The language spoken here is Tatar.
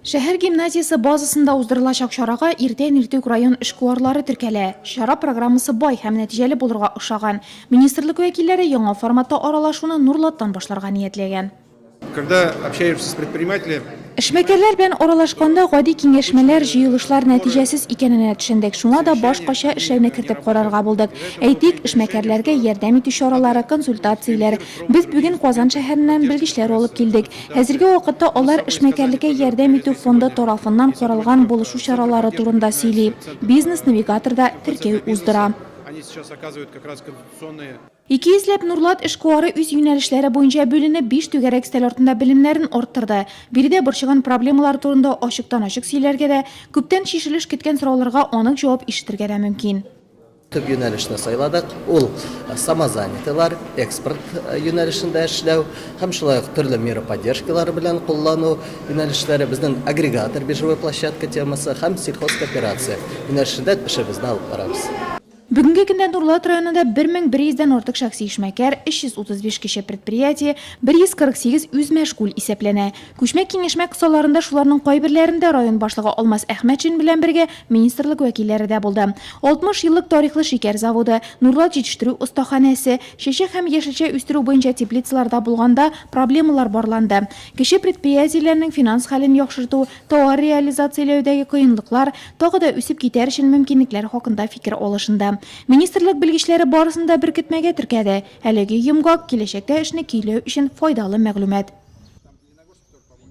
Шәһәр гимназиясе базасында уздырылачак чарага иртән иртүк район эшкуарлары теркәлә. Чара программасы бай һәм нәтиҗәле булырга охшаган. Министрлык вәкилләре яңа форматта аралашуны Нурлаттан башларга ниятләгән. Когда общаешься с предпринимателями. Эшмәкәрләр белән аралашканда гади киңәшмәләр, җыелышлар нәтиҗәсез икәненә төшендек. Шуңа да башкача эшләүне кертеп карарга булдык. Әйтик, эшмәкәрләргә ярдәм итү чаралары, консультацияләр. Без бүген Казан шәһәреннән белгечләр алып килдек. Хәзерге вакытта алар эшмәкәрлеккә ярдәм итү фонды тарафыннан каралган булышу чаралары турында сөйли, бизнес-навигаторда теркәү уздыра. Ике йөзләп Нурлат эшкуары үз юнәлешләре буенча бүленеп, биш түгәрәк өстәл артында белемнәрен арттырды. Биредә борчыган проблемалар турында ачыктан-ачык сөйләргә дә, күптән чишелеш көткән сорауларга анык җавап ишетергә дә мөмкин. Төп юнәлешне сайладык, ул самозанятыйлар, экспорт юнәлешендә эшләү һәм шулай ук төрле мера поддержкалары белән куллану юнәлешләре, безнең агрегатор, биржевой площадка темасы һәм сельхозкооперация юнәлешендә эшебезне алып барабыз. Бүгенге көндә Нурлат районында 1100 дән артык шәхси эшмәкәр, 335 кече предприятие, 148 үзмәшгуль исәпләнә. Күчмә киңәшмә кысаларында шуларның кайберләрендә район башлыгы Алмаз Әхмәтшин белән бергә министрлык вәкилләре дә булды. 60 еллык тарихлы шикәр заводы, Нурлат җитештерү остаханәсе, чәчәк һәм яшелчә үстерү буенча теплицаларда булганда проблемалар барланды, кече предприятиеләрнең финанс хәлен яхшырту, тауар реализацияләүдәге кыенлыклар, тагы да үсеп китәр өчен мөмкинлекләр хакында фикер алышынды. Министрлык белгечләре барысын да беркетмәгә теркәде. Әлеге йомгак, киләчәктә эшне көйләү өчен файдалы мәгълүмат.